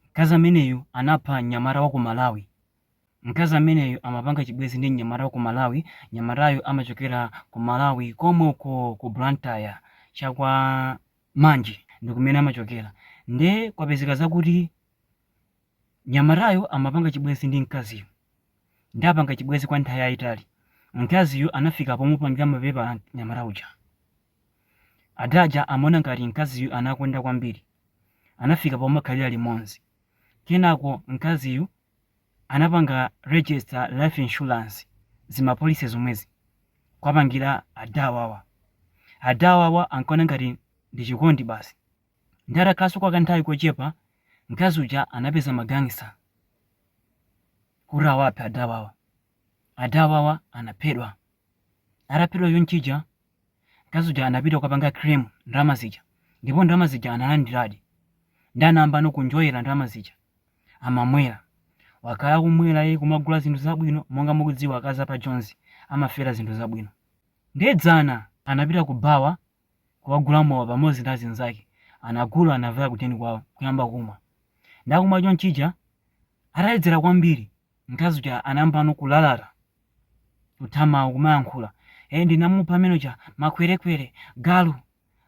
Mkazi ameneyu anapha mnyamata waku Malawi. Mkazi ameneyu amapanga chibwezi ndi mnyamata waku Malawi, mnyamatayo amachokera ku Malawi komwe uko ku Blantyre cha kwa Manje ndikumene amachokera. Nde kwapezeka zakuti mnyamatayu amapanga chibwezi ndi mkaziyu. Nde apanga chibwezi kwa nthawi yayitali. Mkaziyu anafika pomupangira mapepala mnyamata uja. Ada aja amaona ngati mkaziyu anakonda kwambiri. anafika pomakhalira limodzi. Kenako mkaziyu anapanga register life insurance zima policy zomwezi kwapangira ada awawa. Ada awawa ankaona ngati ndi chikondi basi. Ndi atakhalanso kwa kanthawi kochepa, mkazi uja anapeza ma gangster kuti awaphe ada awawa. Ada awawa anaphedwa. Ataphedwa chonchija, Mkazi uja anapita kukapanga claim ndalama zija ndipo ndalama zija analandiradi. Ndi anayambano kunjoyera ndalama zija. Amamwera. Wakhala akumwera iye kumagula zinthu zabwino monga mukudziwa akazi apa Jonzi amafera zinthu zabwino. Ndiye dzana anapita ku bawa kukagula mowa pamodzi ndi azinzake. Anagula anavaya kudeni kwawo kuyamba kumwa. Nde akumwa chonchija ataledzera kwambiri Mkazi uja anayambano kulalata, kutha mawu, kumayankhula. Ee, ndinamupha amene uja, makwerekwere, galu.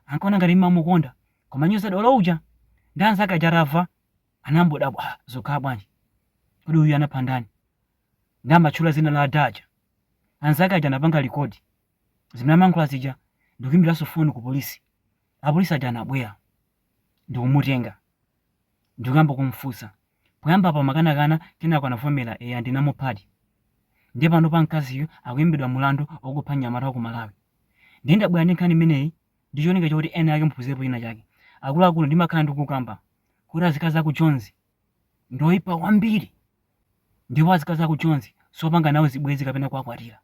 Ankaona ngati ndimamukonda. Kumanyoza dolo uja. Ndi anzake aja atamva, anangodabwa, ah, zikukhala bwanji? Kodi uyu anapha ndani? Ndi amatchula dzina la ada aja. Anzake aja anapanga record zimene amayankhula zija ndi kuimbiranso foni ku polisi. Apolisi aja anabwera ndi kumutenga ndi kuyamba kumfunsa. Poyambapo amakanakana kenako anavomera eya ndinamuphadi. Ndiye panopa mkaziyu akuimbidwa mlandu okupha mnyamata wa ku Malawi. Ndiye ndabwera ndi nkhani imeneyi ndi cholinga choti ena ake muphunzirepo china chake. Akuluakulu ndimakhala ndikukamba kuti azikazi aku Jonzi ndi oipa kwambiri ndipo azikazi aku Jonzi sopanga nawo zibwenzi kapena kuwakwatira.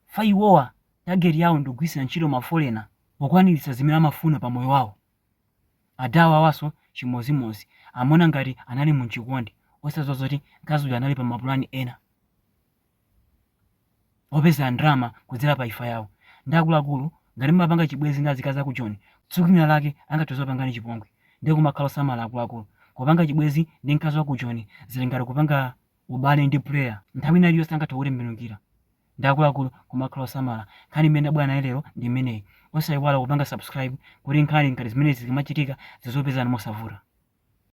Fa iwowa target yawo ndikugwiritsira ntchito mafolena pokwaniritsa zimene amafuna pa moyo wawo. Ada awawanso chimozimozi amaona ngati anali munchikondi osadziwa zoti mkazi uja anali pamapulani ena opezera ndalama kudzera pa imfa yawo ndi akuluakulu ngati mumapanga chibwezi ndi azikazi aku joni tsiku lina lake angathe zopangani chipongwe ndiye kumakhala osamala akuluakulu kupanga chibwezi ndi mkazi waku joni zili ngati kupanga ubale ndi player nthawi ina iliyonse angathe kukutembenukira ndi akuluakulu kumakhala osamala nkhani imene nabwera nayo lero ndi imeneyi osayiwala kupanga subscribe kuti nkhani ngati zimenezi zikamachitika zizopezani mosavuta